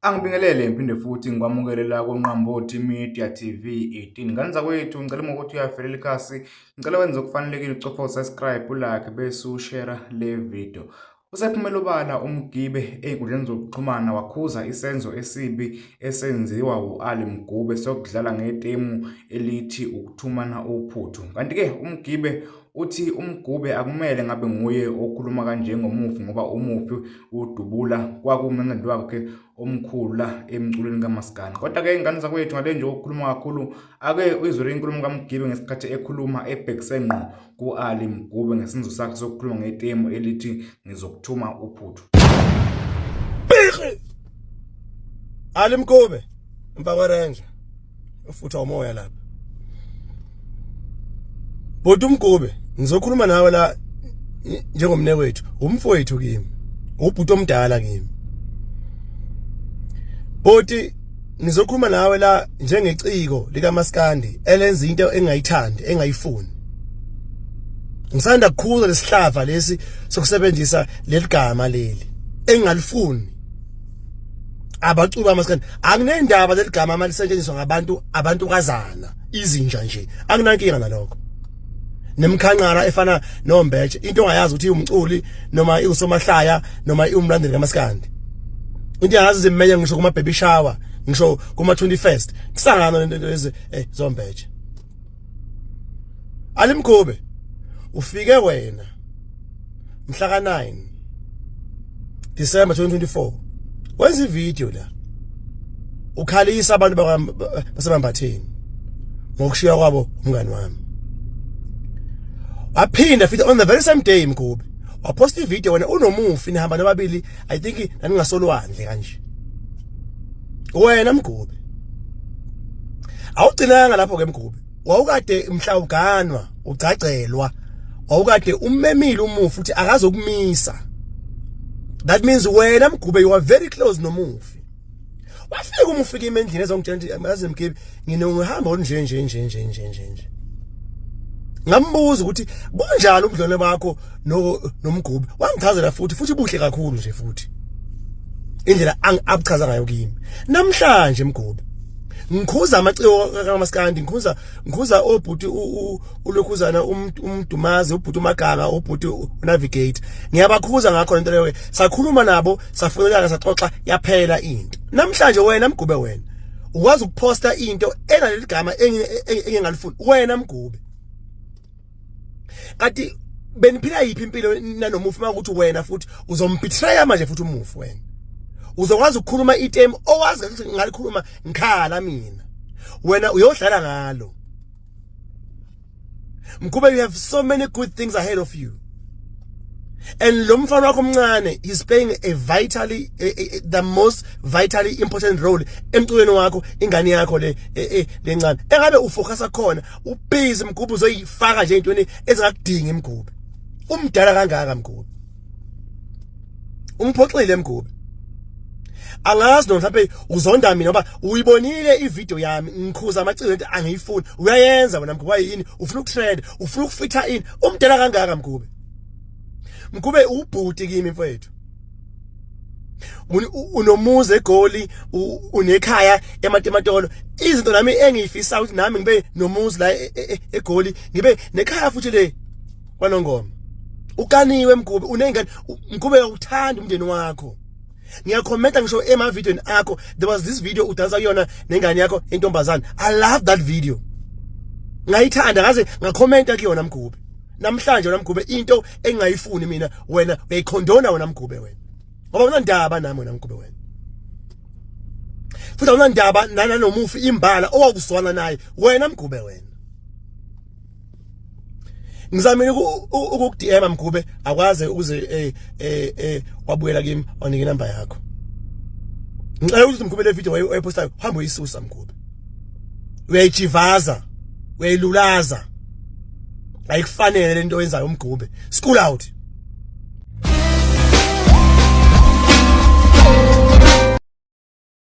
Angibingelele ngiphinde futhi ngikwamukele la koNqambothi Media TV 18. Ngane zakwethu ngicela uma ukuthi uyavelela ikhasi, ngicela wenze okufanelekile ucofa usubscribe ulike bese ushare le video. Usephumela obala uMgibe ey'nkundleni zokuxhumana wakhuza isenzo esibi esenziwa u-Ali Mgube sokudlala ngetemu elithi ukuthumana uphuthu. Kanti-ke uMgibe Uthi uMgube akumele ngabe nguye okhuluma kanje ngomufi ngoba umufi udubula kwakumemedi wakhe omkhulu la emculweni kamaskandi kodwa-ke ingane zakwethu ngale nje okukhuluma kakhulu ake uyizwele inkulumo kamgibe ngesikhathi ekhuluma ebhekise ngqo ku-ali mgube ngesenzo sakhe sokukhuluma ngetemu elithi ngizokuthuma uphuthu ali mgube mfakwerenja ufutha umoya lapha bhuti umgube ngizokhuluma nawe la njengomne wethu umfowethu kimi ubhuti omdala kimi bhuti ngizokhuluma nawe la njengeciko likamaskandi elenza into engayithandi engayifuni ngisanda kukhula lesihlava lesi sokusebenzisa leligama leli engalifuni abacuba amaskandi anginendaba leligama ama lisetshenziswa ngabantu abantu kazana izinja nje anginankinga nalokho nemkhanqara efana nombetshe into ongayazi ukuthi umculi noma iusomahlaya noma iumlandeli kamaskandi into yazi zimeya ngisho kuma baby shower ngisho kuma 21st kusangana lento lezi eh zombetshe alimkhube ufike wena mhla ka 9 December 2024 wenza ivideo la ukhalisa abantu basemambatheni ngokushiya kwabo umngani wami waphinda futhi on the very same day mkhube waposta ivideo wena unomufi nihamba nababili i think naningasolwandle kanje wena mgube awugcinanga lapho ke mgube wawukade mhla uganwa ugcagcelwa wawukade ummemile umufi uthi akazokumisa that means wena mgube you are very close nomufi wafika umufika imendlini ezongitshela ukuthi amazi mgebe ngine ngihamba olunje nje nje nje nje nje nje ngambuza ukuthi bunjani ubudlwane bakho no nomgqubi wangichazela futhi futhi buhle kakhulu nje futhi indlela abuchaza ngayo kimi namhlanje mgqubi ngikhuza amaciko kamaskandi ngikhuza ngikhuza obhuti ulokhuzana umdumazi ubhuti umaganga ubhuti unavigate ngiyabakhuza ngakho lento leyo sakhuluma nabo safunelana saxoxa yaphela into namhlanje wena mgube wena ukwazi ukuposta into enaleligama engingalifuni wena mgube kanti beniphila yiphi impilo nanomufi makuthi wena futhi uzombetray manje futhi umufi wena uzokwazi ukukhuluma item owazi ukuthi ngalikhuluma ngikhala mina wena uyodlala ngalo Mkube you have so many good things ahead of you and lo mfana wakho omncane is playing a vitally a, a, the most vitally important role emculweni wakho ingane yakho le e, e, lencane engabe ufocusa khona ubhizi mgubhu uzoyifaka nje intweni ezingakudingi mgubhu umdala kangaka mgubhu umphoxile mgubhu angazi noma mhlawumbe uzonda mina ngoba uyibonile ivideo yami ngikhuza amaciko lento angiyifuni uyayenza wena mgube yini ufuna ukutrend ufuna ukufitha ini umdala kangaka mgube mgube ubhuti kimi mfowethu unomuzi egoli unekhaya ematematolo izinto nami engiyifisa ukuthi nami ngibe nomuzi la e, e, e, egoli ngibe nekhaya futhi le kwanongoma ukaniwe mgube unengane mgube uyakuthanda umndeni wakho ngiyakhomenta ngisho emavidiyweni akho there was this video udansa kuyona nengane yakho intombazane i love that video ngayithanda ngaze ngakhomenta kuyona mgube namhlanje wena mgube into engayifuni mina wena uyayikhondona wena mgube wena ngoba unandaba nami wena mgube wena futhi awunandaba nanomufi imbala owakuzwana naye wena mgube wena ngizamile ukukudm mgube akwaze ukuze eh eh, eh wabuyela kimi wanike inamba yakho ngicela ukuthi mgube le video wayepostayo hamba uyisusa mgube uyayijivaza uyayilulaza ayikufanele lento oyenzayo umgube school out